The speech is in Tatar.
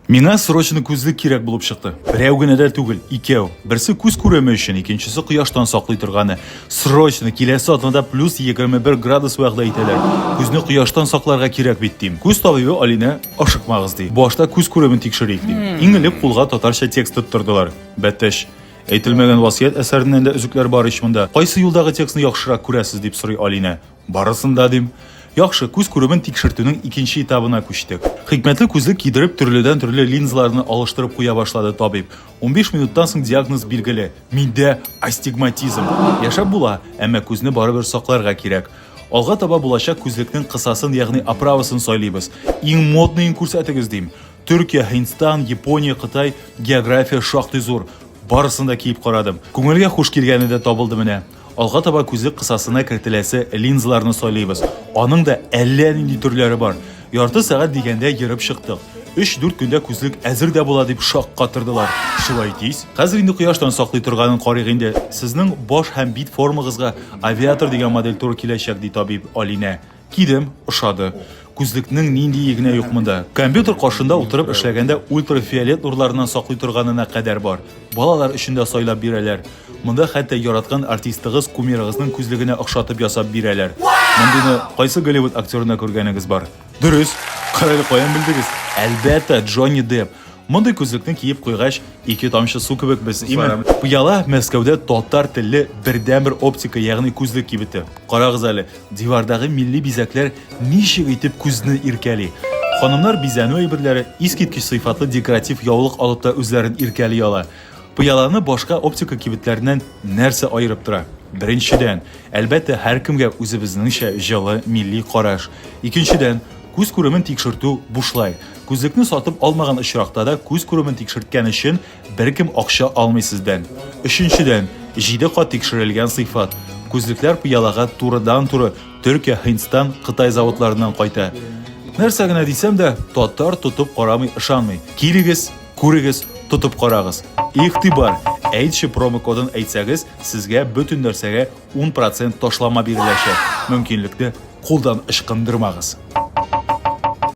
Миңа срочно күзлек кирәк булып чыкты. Берәү генә дә түгел, икәү. Берсе күз күреме өчен, икенчесе кояштан саклый торганы. Срочно, киләсе атнада плюс 21 градус вәгъдә итәләр. Күзне кояштан сакларга кирәк бит, дим. Күз табибы Алинә, ашыкмагыз, ди. Башта күз күремен тикшерик, ди. Иң элек кулга татарча текст тоттырдылар. Бәтәч. Әйтелмәгән васыять әсәреннән дә өзекләр бар ич монда. Кайсы юлдагы текстны яхшырак күрәсез, дип сорый Алинә. Барысын да дим. Яхшы, күз күремен тикшертүнең икенче этабына күчтек. Хикмәтле күзлек кидереп, төрледән-төрле линзаларны алыштырып куя башлады табиб. Унбиш минуттан соң диагноз билгеле, миндә, астигматизм. Яшәп була, әмма күзне барыбер сакларга кирәк. Алга таба булачак күзлекнең кысасын, ягъни оправасын сайлыйбыз. Иң модныен күрсәтегез, дим. Төркия, Һиндстан, Япония, Кытай, география шактый зур. Барысын да киеп карадым. Күңелгә хуш килгәне дә табылды менә. Алга таба күзлек кысасына кертеләсе линзаларны сайлыйбыз. Аның да әллә нинди төрләре бар. Ярты сәгать дигәндә йөреп чыктык. Өч-дүрт көндә күзлек әзер дә була дип шаккатырдылар. Шулай тиз? Хәзер инде кояштан саклый торганын карыйк инде. Сезнең баш һәм бит формагызга авиатор дигән модель туры киләчәк, ди табиб Алинә. Кидем, ошады. Күзлекнең ниндие генә юк монда. Компьютер каршында утырып эшләгәндә ультрафиолет нурларыннан саклый торганына кадәр бар. Балалар өчен дә сайлап бирәләр. Монда хәтта яраткан артистыгыз, кумирыгызның күзлегенә охшатып ясап бирәләр. Мондыйны кайсы Голливуд актерында күргәнегез бар? Дөрес! Кырыйны каян белдегез? Әлбәттә, Джонни Депп. Мондый күзлекне киеп куйгач, ике тамчы су кебек без, име? Пыяла Мәскәүдә татар телле бердәнбер оптика, ягъни күзлек кибете. Карагыз әле, дивардагы милли бизәкләр ничек итеп күзне иркәли. Ханымнар бизәнү әйберләре, искиткеч сыйфатлы декоратив яулык алып та үзләрен иркәли ала. Пыяланы башка оптика кибетләреннән нәрсә аерып тора? Беренчедән, әлбәттә, һәркемгә үзебезнеңчә җылы милли караш. Икенчедән, Күз күремен тикшертү бушлай. Күзлекне сатып алмаган очракта да күз күремен тикшерткән өчен беркем акча алмый сездән. Өченчедән, җиде кат тикшерелгән сыйфат. Күзлекләр пыялага турыдан-туры Төркия, Һиндстан, Кытай заводларыннан кайта. Нәрсә генә дисәм дә, татар тотып карамый ышанмый. Килегез, күрегез, тотып карагыз. Игътибар! Әйтче промокодын әйтсәгез, сезгә бөтен нәрсәгә Ун процент ташлама биреләчәк. Мөмкинлекне кулдан ычкындырмагыз.